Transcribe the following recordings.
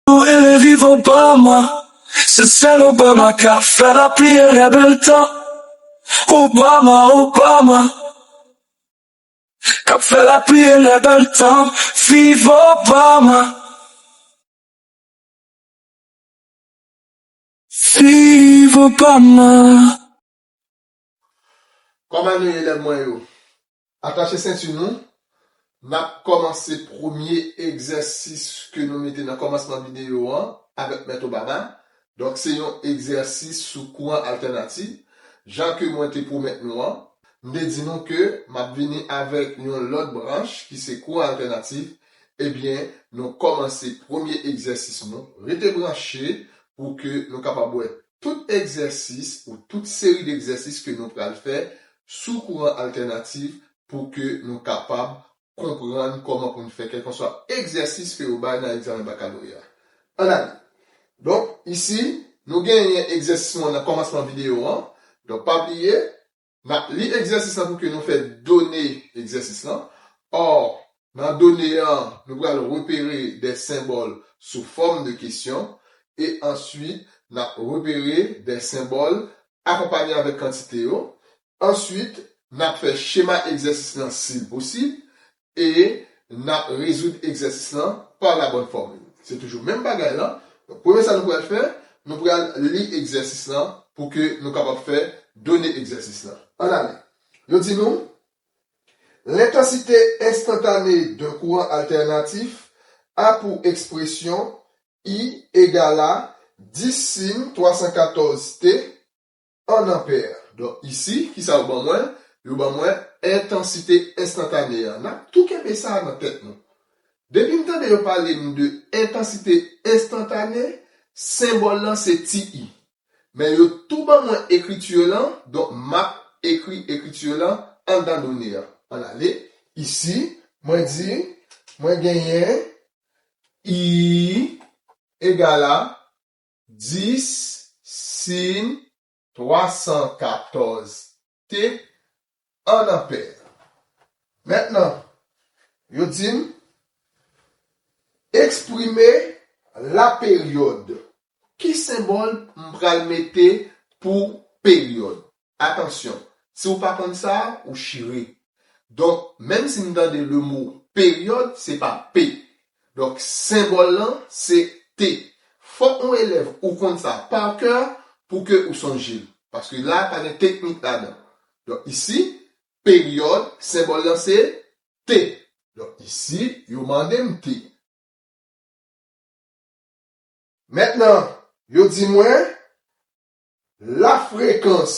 Ou ele viv Obama Se sèl Obama ka fè lapli e lè bèl tan Obama, Obama K ap fè lapli e lè bèl tan Viv Obama Viv Obama Kòman nou ye elèv mwen yo? Atache senti nou, n ap kòmanse premye egzèsis ke nou mete nan kòmansman videyo an avèk Mèt Obama. Donk se yon egzèsis sou kouran altènativ. Jan ke mwen te pwomèt nou an, m te di nou ke m ap vini avèk yon lòt branch ki se kouran altènativ. Ebyen, nou kòmanse premye egzèsis nou. Rete branche pou ke nou kapab wè Tout egzèsis ou tout seri d'egzèsis ke nou pral fè sou kouran altènatif pou ke nou kapab konprann kòman pou n fè kèlkanswa egzèsis ke yo bay nan egzamen bakaloreya. Ann ale! Donk, isi, nou genyen egzèsis mwen nan kòmansman videyo an. Donk, pa bliye, N ap li egzèsis lan pou ke nou fè done egzèsis lan. Or, nan done an, nou pral repere dè senbòl sou fòm de kesyon e answit n ap repere dè senbòl akonpanye avèk kantite yo. Answit, n ap fè chema egzèsis lan si l posib E nap rezoud egzèsis lan pa la bòn fòmil. Se toujou menm bagay lan. Donk premye sa nou pral fè, nou pral li egzèsis lan pou ke nou kapab fè done egzèsis lan. Ann ale. Yo di nou, Lentansite enstantane d'un kouran altènatif a pou ekspresyon I egal a 10 sin 314 t, 1 ampère. Donk isi, ki sa yo ban mwen? Yo ban mwen entansite enstantane a. N ap tou kenbe sa nan tèt nou. Depi n tande yo pale n de entansite enstantane, senbòl lan se ti i. Men yo tou ban mwen ekriti yo lan, donk m ap ekri ekriti yo lan anndan done a. Ann ale, isi, mwen di, mwen genyen I egal a 10 sin 314 te an anpè. Mentnan, yo di m, Eksprime laperyòd. Ki senbòl m pral mete pou peryòd? Atansyon, si ou pa konn sa a, ou chire. Donk, menm si n tande le mo peryòd, se pa p. Donk, senbòl lan, se t. Fòk yon elèv ou konn sa a par coeur pou ke ou sonje l. Paske la a pa gen teknik ladan. Donk, isi, peryòd, senbòl lan se t. Donk, isi, yo mande m t. Mentnan, yo di mwen, La frekans.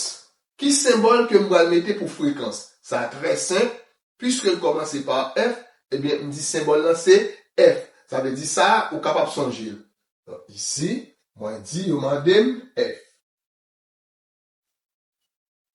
Ki senbòl ke m pral mete pou frekans? Sa trè senp, piske l kòmanse pa F, ebyen m di senbòl lan se F. Sa vle di sa a, ou kapab sonje l. Donk isi, mwen di yo mande m F.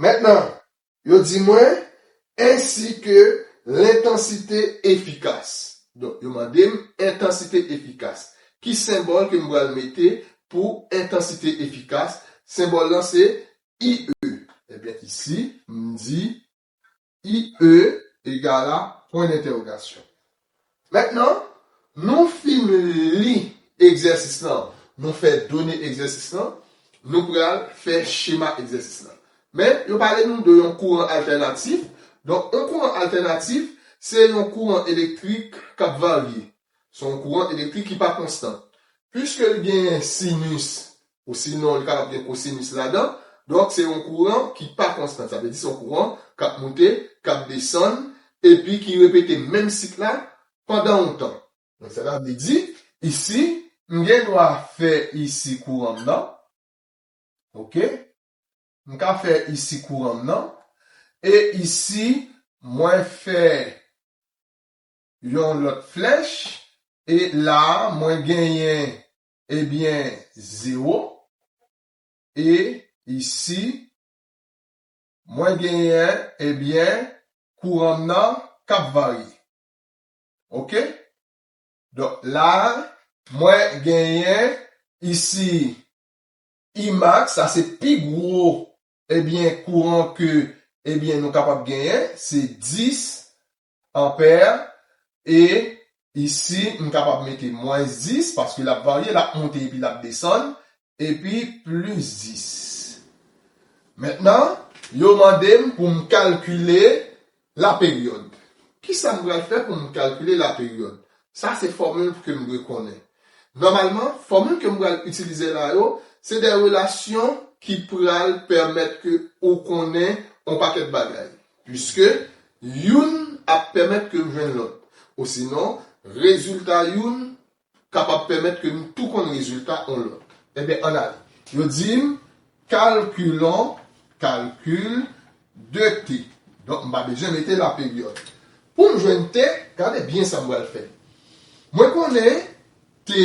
Mentnan, yo di mwen, ensi ke lentansite efikas. Donk, yo mande m entansite efikas. Ki senbòl ke m pral mete pou entansite efikas? Senbòl lan se IE. Ebyen, isi, m di, IE egal a pwen dentèwogasyon. Mentnan, nou fin li egzèsis lan, nou fè done egzèsis lan, nou pral fè chema egzèsis lan. Men, yo pale nou de yon kouran altènatif. Donk, yon kouran altènatif, se yon kouran elektrik k ap varye. Se yon kouran elektrik ki pa konstan. Piske li genyen sinus Osinon, li kapab gen kosinus ladan. Donk, se yon kouran ki pa konstan. Sa vle di se yon kouran k ap moute, k ap desann, epi ki repete menm sik la pandan yon tan. Donk, sa ta vle di, isi, m gen dwa fè isi kouran m nan. Oke. M ka fè isi kouran m nan. E isi, mwen fè yon lòt flèch. E la a, mwen genyen Ebyen 0 e isi mwen genyen ebyen kouran m nan kap varye ok donk la. Mwen genyen isi Imax sa se pi gwo ebyen kouran ke ebyen nou kapab genyen se 10 Ampère, E isi m kapab mete mwens 10, paske l ap varye, l ap monte epi l ap desann, epi plis 10. Mentnan, yo mande m pou m kalkile laperyòd. Kisa m pral fè pou m kalkile laperyòd? Sa se fòmil ke m dwe konnen. Nòmalman, fòmil ke m pral itilize la yo, se de relasyon ki pral pèmèt ke ou konnen on pakèt bagay. Piske, youn ap pèmèt ke m jwenn lòt. Osinon, rezilta youn kapab pèmèt ke m tou konn rezilta on lòt. Enben, ann ale. Yo di m, Kalkilon, calcul, de t. Donk, m pa bezwen mete laperyòd. Pou m jwenn t, gade byen sa m pral fè. Mwen konnen t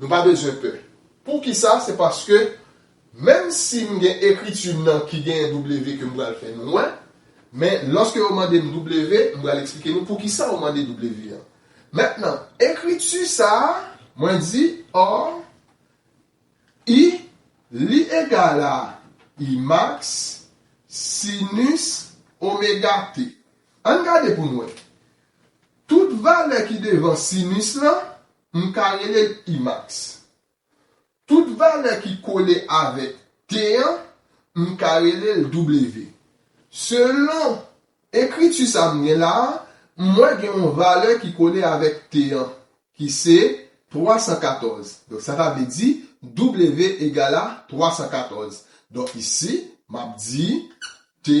Nou pa bezwen pè. Poukisa? Se paske, menm si m gen ekriti m nan ki genyen W ke m pral fè nou wè, men lòske yo mande m W, m pral eksplike nou poukisa yo mande W an. Mentnan, ekriti sa a, mwen di, Or, I, li egal a I max sinus omega t. Ann gade pou n wè. Tout valè ki devan sinus lan, M ka rele l Imax. Tout valè ki kole avèk T an, m ka rele l W. Selon ekriti sa m gen la a, m wè gen yon valè ki kole avèk T an, ki se 314. Donk sa ta vle di W egal a 314. Donk isi, m ap di T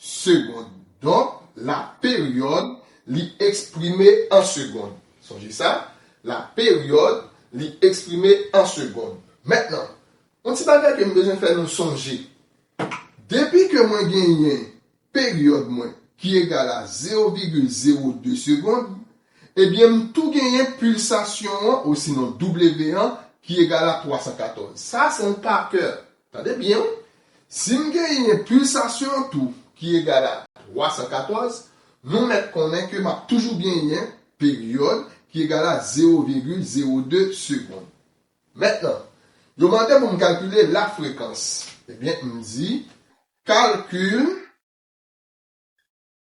Segond. Donk, la peryòd li eksprime an segond. Sonje sa, la peryòd li eksprime an segond. Mentnan, yon ti bagay ke m bezwen fè nou sonje. Depi ke mwen genyen peryòd mwen ki egal a zewo vigil zewo de segond, ebyen m tou genyen pilsasyon an osinon W an ki egal a 314. Sa se yon pakè Tande byen wi, si m genyen pilsasyon an tou ki egal a 314, nou mèt konnen ke m ap toujou genyen peryòd ki egal a zewo vigil zewo de segond. Mentnan, yo mande pou m kalkile lafrekans. Ebyen, m di, kalkil.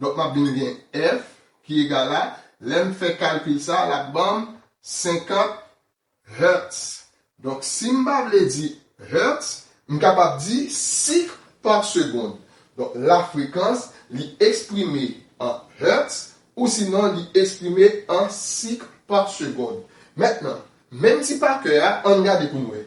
Donk m ap vin gen F ki egal a, lè m fè kalkil sa a, l ap ban m 50 Hz. Donk si m pa vle di Hz, m kapab di sik pa segond. Donk lafrekans li eksprime an Hz ousinon li eksprime an sik pa segond. Mentnan, menm ti pa kè a, an n gade pou n wè.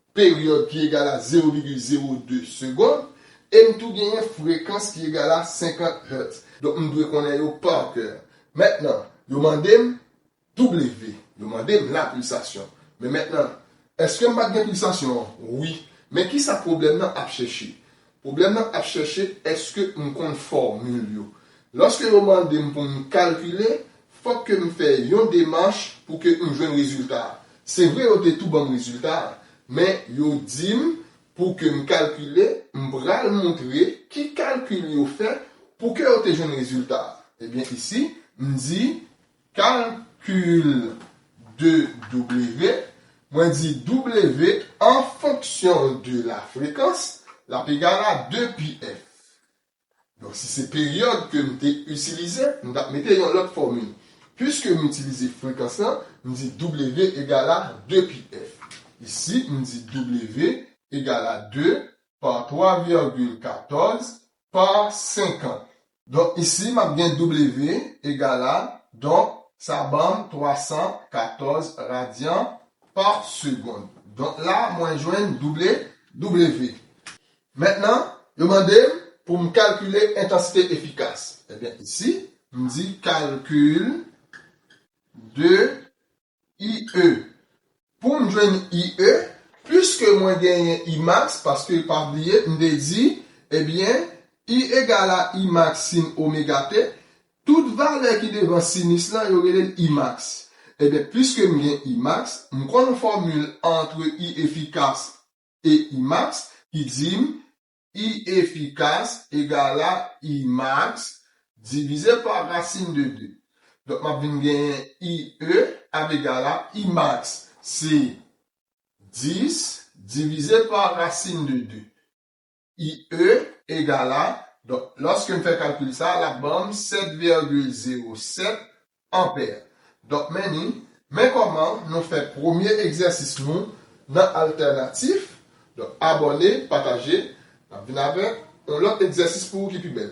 peryòd ki egal a 0,02 segond, e m tou genyen frekans ki egal a 50 Hz. Donk m dwe konnen yo pa kè. Mentnan, yo mande m W. Yo mande m la pilsasyon. Men mentnan, èske m pa t gen pilsasyon an? Wi. Men kisa pwoblèm nan ap chèche? Pwoblèm nan ap chèche èske m konn fòmil yo. Lòske yo mande m pou m kalkile, fòk ke m fè yon demach pou ke m jwenn rezilta a. Se vre yo te tou ban m rezilta a, men yo di m pou ke m kalkile, m pral moutre ki kalkil yo fè pou ke yo te jwenn rezilta a. Ebyen isi, m di Calcul de W, mwen di W an fonksyon de la frekans, l ap egal a 2 pi F. Donk si se peryòd ke m te itilize, m t ap mete yon lòt fòmil. Piske m itilize frekans lan, m di W egal a 2 pi F. Isi, m di W egal a 2 pa 3 vègil 14 pa 50. Donk isi m ap gen W egal a, donk sa ban m 314 radyan pa segond. Donk la mwen jwenn double W. Mentnan, yo mande m pou m kalkile entansite efikas. Ebyen isi, m di kalkil de IE. Pou m jwenn IE, pwiske mwen genyen I max, paske pa bliye m te di, ebyen, I egal a I max sin omega t, tout valè ki devan sinus lan yo rele l I max. Ebyen, pwiske m gen I max, m konn fòmil antre I efikas e I max ki di m I efikas egal a I max divize pa rasin de 2. Donk m ap vin genyen I e ap egal a I max se 10 divize pa rasin de 2. I e egal a, donk lòske m fè kalkil sa a l ap ban m 7,07 anpè. Donk meni, men kòman nou fè premye egzèsis nou nan altènatif. Donk abòne, pataje, n ap vin avèk yon lòt egzèsis pou ou ki pi bèl.